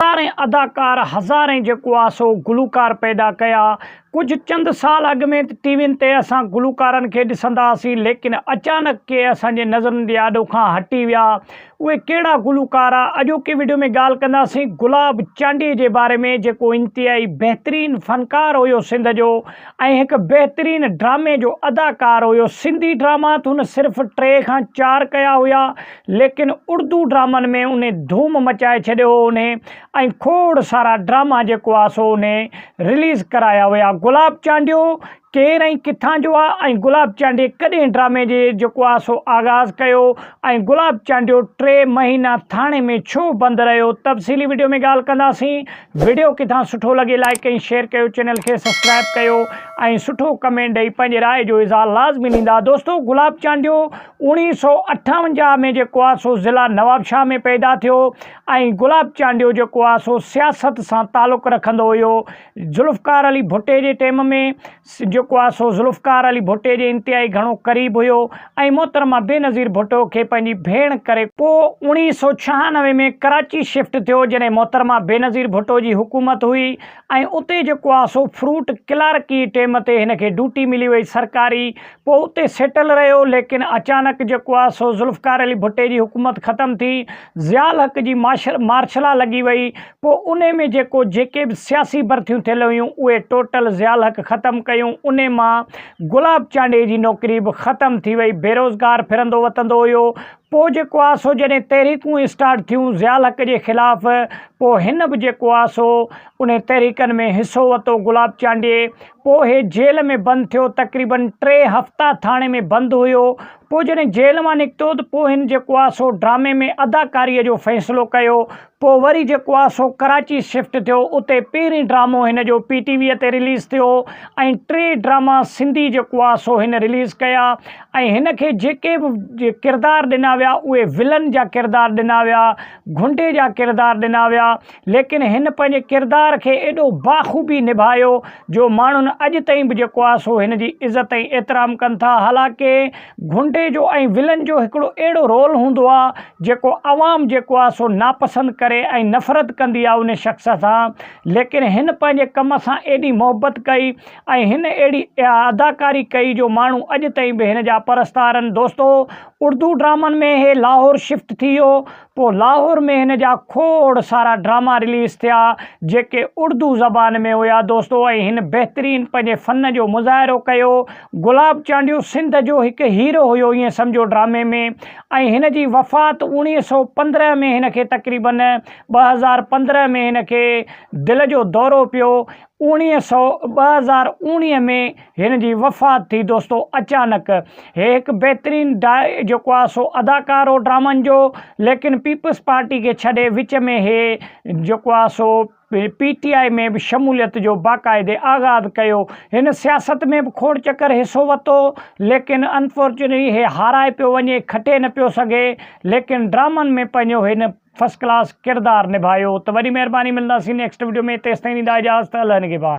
هزارين اداڪار، هزارين جيڪو آ سو گلوڪار پيدا ڪيا. ڪجهه چند سال اڳ ۾ ته ٽي وين تي اسان گلوڪارن کي ڏسندا هئاسين ليڪن اچانڪ ڪي اسان جي نظرن جي آڏو کان هٽي ويا. اهي ڪهڙا گلوڪار آ؟ اڄوڪي وڊيو ۾ ڳالهه ڪنداسين گلاب چانڊيي جي باري ۾ جيڪو انتهائي بهترين فنڪار هيو سنڌ جو ۽ هڪ بهترين ڊرامي جو اداڪار هيو. سنڌي ڊراما ته هن صرف ٽي کان چار ڪيا هيا ليڪن اڙدو ڊرامن ۾ انهي ڌوم مچائي ڇڏيو هو انهي ۽ کوڙ سارا ڊراما جيڪو آ سو انهي رليز ڪرايا هيا گلاب چانڊيو ڪير ۽ ڪٿان جو آ ۽ گلاب چانڊيي ڪڏهن ڊرامي جي جيڪو آ سو آغاز ڪيو ۽ گلاب چانڊيو ٽي مهينا ٿاڻي ۾ ڇو بند رهيو تفصيلي وڊيو ۾ ڳالهه ڪنداسين وڊيو ڪٿان سٺو لڳي لائڪ ۽ شيئر ڪيو چينل کي سبسڪرائب ڪيو ۽ سٺو ڪمينٽ ڏئي پنهنجي راء جو اظهار لازمي ڏيندا دوستو گلاب چانڊيو اوڻيهه سؤ اٺاونجاهه ۾ جيڪو آهي سو ضلع نوابشاهه ۾ پيدا ٿيو ۽ گلاب چانڊيو جيڪو آهي سو سياست سان تعلق رکندو هيو ذوالفقار علي ڀٽي جي ٽيم ۾ جيڪو آهي سو ذوالفقار علي ڀٽي جي انتهائي گهڻو قريب هيو ۽ محترمه بينظير ڀٽو کي پنهنجي ڀيڻ ڪري پوء اوڻيهه سؤ ڇهانوي ۾ ڪراچي شفٽ ٿيو جڏهن محترمه بينظير ڀٽو جي حڪومت هئي ۽ اتي جيڪو آهي سو فروٽ ڪلارڪي ٽيم تي هن کي ڊوٽي ملي وئي سرڪاري پوء اتي سيٽل رهيو ليڪن اچانڪ جيڪو آ سو ذوالفقار علي ڀٽي جي حڪومت ختم ٿي ضياء الحق جي ماشل مارشلا لڳي وئي پوء انهي ۾ جيڪو جيڪي به سياسي برٿيون ٿيل هيون اهي ٽوٽل ضياء الحق ختم ڪيون انهي مان گلاب چانڊئي جي نوڪري به ختم ٿي وئي بيروزگار ڦرندو وتندو هيو پوء جيڪو آ سو جڏهن تحريڪون اسٽارٽ ٿيون ضياء الحق جي خلاف پوء هن به جيڪو آ سو انهي تحريڪن ۾ حصو وتو گلاب چانڊئي پوء هي جيل ۾ بند ٿيو، تقريبن ٽي هفتا ٿاڻي ۾ بند هيو، پوء جڏهن جيل مان نڪتو ته پوء هن جيڪو آ سو ڊرامي ۾ اداڪاريء جو فيصلو ڪيو، پوء وري جيڪو آ سو ڪراچي شفٽ ٿيو، اتي پهرين ڊرامو هن جو پي ٽي ويء تي رليز ٿيو ۽ ٽي ڊراما سنڌي جيڪو آ سو هن رليز ڪيا ۽ هن کي جيڪي به ڪردار ڏنا ويا اهي ولن جا ڪردار ڏنا ويا، گهنڊي جا ڪردار ڏنا ويا. ليڪن هن پنهنجي ڪردار کي ايڏو باخوبي نڀايو جو ماڻهن اڄ تائين به جيڪو آهي سو هن جي عزت ۽ احترام ڪن ٿا حالانڪه گهنڊي جو ۽ ولن جو هڪڙو اهڙو رول هوندو آهي جيڪو عوام جيڪو آهي سو ناپسند ڪري ۽ نفرت ڪندي آهي ان شخص سان ليڪن هن پنهنجي ڪم سان ايڏي محبت ڪئي ۽ هن اهڙي اداڪاري ڪئي جو ماڻهو اڄ تائين به هن جا پرستار آهن دوستو اردو ڊرامن ۾ هي لاهور شفٽ ٿي ويو پوء لاهور ۾ هن جا کوڙ سارا ڊراما رليز ٿيا جيڪي اڙدو زبان ۾ هيا دوستو ۽ هن بهترين پنهنجي فن جو مظاهرو ڪيو گلاب چانڊيو سنڌ جو هڪ هيرو هيو ائين سمجهو ڊرامي ۾ ۽ هن جي وفات اوڻيهه سؤ پندرهن ۾ هن کي تقريبن ٻه هزار پندرهن ۾ هن کي دل جو دورو پيو اڻيهه سؤ ٻه هزار اڻيهه ۾ هن جي وفات ٿي دوستو اچانڪ هي هڪ بهترين ڊا جيڪو آ سو اداڪار هو ڊرامن جو ليڪن پيپلز پارٽي کي ڇڏي وچ ۾ هي جيڪو آ سو پي ٽي آئي ۾ به شموليت جو باقاعدي آغاز ڪيو هن سياست ۾ به کوڙ چڪر حصو وتو ليڪن انفورچونيٽلي هي هارائي پيو وڃي کٽي نه پيو سگهي ليڪن ڊرامن ۾ پنهنجو هن فرسٽ ڪلاس ڪردار نڀايو ته وڏي مهرباني ملنداسين نيڪسٽ وڊيو ۾ تيستائين ڏيندا اجازت الله نگهبان.